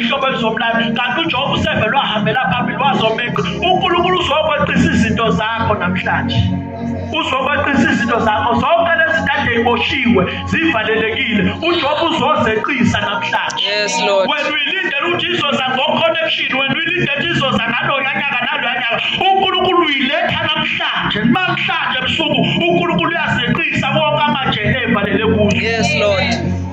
ihlobo elizomlanda kanti uJehova useve lwahambela phambili wazomeqa uNkulunkulu uzokwaqisa izinto zakho namhlanje uzokwaqisa izinto zakho zonke lezi zinto eyiboshiwe zivalelekile uJehova uzozeqisa namhlanje yes lord wena uyilindela ukuthi izoza ngo connection wena uyilindela ukuthi izoza ngalo yanyaka nalo yanyaka uNkulunkulu uyiletha namhlanje namhlanje ebusuku uNkulunkulu uyazeqisa wonke amajele evalele kuyo yes lord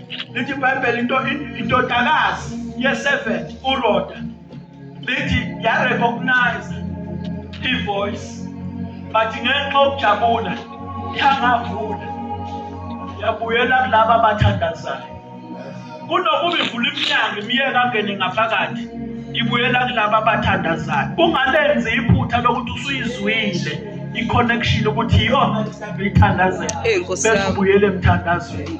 lithi ibhayibheli into indodakazi ye-seven uroda lithi yarecognize i-voice but ngenxa okujabula yangavula yabuyela kulaba abathandazayo kunokuba ivula iminyango imiyeka angene ngaphakathi ibuyela kulaba abathandazayo ungalenzi iphutha lokuthi usuyizwile i-connection ukuthi iyona ithandazela bese ubuyele emthandazweni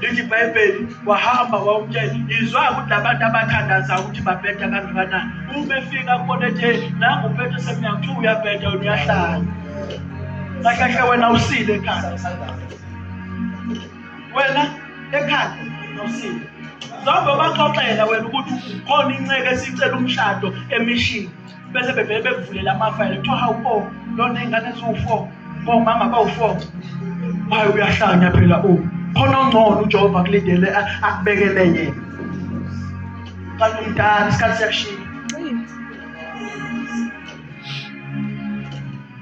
lithi ibhayibheli wahamba wawumtshela ngizwa ukuthi abantu abathandaza ukuthi babheda kangakanani uma efika kubona ethe nangu ubheda seminyaka kuthiwa uyabheda wena uyahlala kahlahle wena usile ekhanda wena ekhanda usile zobe baxoxela wena ukuthi khona inceke esicela umshado emishini bese bevele bekuvulela amafayela kuthiwa hawu o oh, lona ingane ziwu-four bomama oh, bawu-four hayi uyahlanya phela o oh. khona ongcono ujehova kulindele akubekele yena kanti umdala isikhathi siyakushiya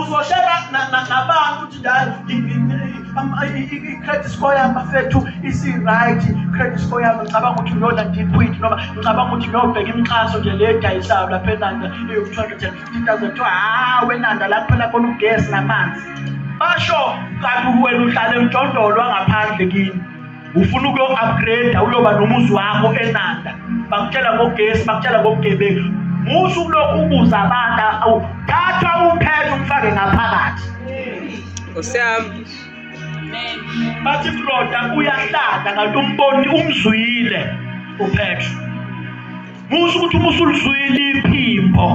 uzoshela nabantu ukuthi i-credit score yami bafethu isi-right i-credit score yami ngicabanga ukuthi ngiyona deep wit noma ngicabanga ukuthi ngiyobheka imixhaso nje le edayisayo lapha enanda eyoku-two hundred and fifty thousand kuthiwa hha wenanda la kuphela khona ugesi namanzi basho kanti wena uhlala emjondolo wangaphandle kini ufuna ukuyo-upgrade uyoba nomuzi wakho enanda bakutshela ngogesi bakutshela ngobugebengu musa ukulokhu ubuza abantu thatha uphele umfake ngaphakathi osiyami bathi kuloda uyahlala kanti umboni umzwile uphetro Kusho ukuthi uma usulizwile iphimbo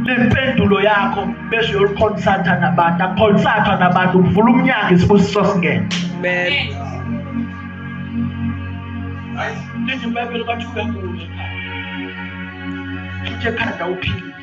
lempendulo yakho bese uyolikhonsatha nabantu akukhonsathwa nabantu kuvula umnyango isibusiso singene amen lithi ibhayibheli bathi uyagula ekhanda uphile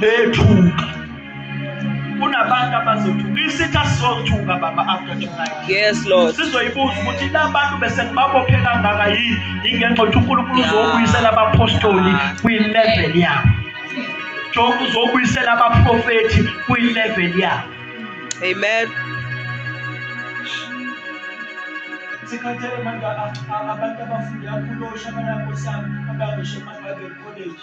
bethuka kunabantu abazothuka isitha sizothuka baba after tonight yes lord sizoyibuza ukuthi labantu bese ngibabophe kangaka yini ingenxa ukuthi uNkulunkulu uzobuyisela abapostoli kwi level yabo Job uzobuyisela abaprofeti kwi level yabo amen sikhathele manje abantu abafunda kulosha abanakosi abakushe manje college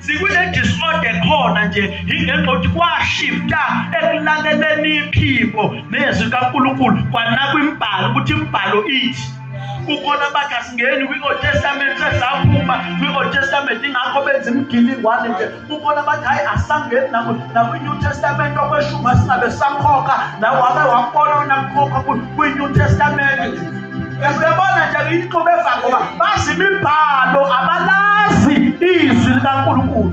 sikule disorder khona nje yingenxa ukuthi kwashifta ekulaleleni iphimbo nezwi kaNkulunkulu kwanakwa imbhalo ukuthi imbhalo ithi kukhona abathi asingeni kwi-old testament sesaphuma kwi-old testament ingakho benza imigilingwane nje kukhona abathi hhayi asangeni nakwi-new testament okweshuma singabe sakhokha nawe wake wabona unakukhokha kwi-new testament Uyabona nje ngiyixube fa ngoba bazi imibhalo abalazi izwi likaNkulunkulu.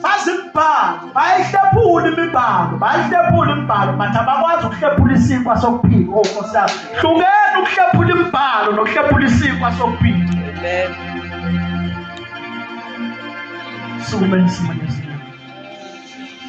Bazi imibhalo, bayihlephula imibhalo, bayihlephula imibhalo but abakwazi ukuhlephula isinkwa sokuphila. Oh Nkosi yami, hlukeni ukuhlephula imibhalo nokuhlephula isinkwa sokuphila. Amen. Sukume nisimame.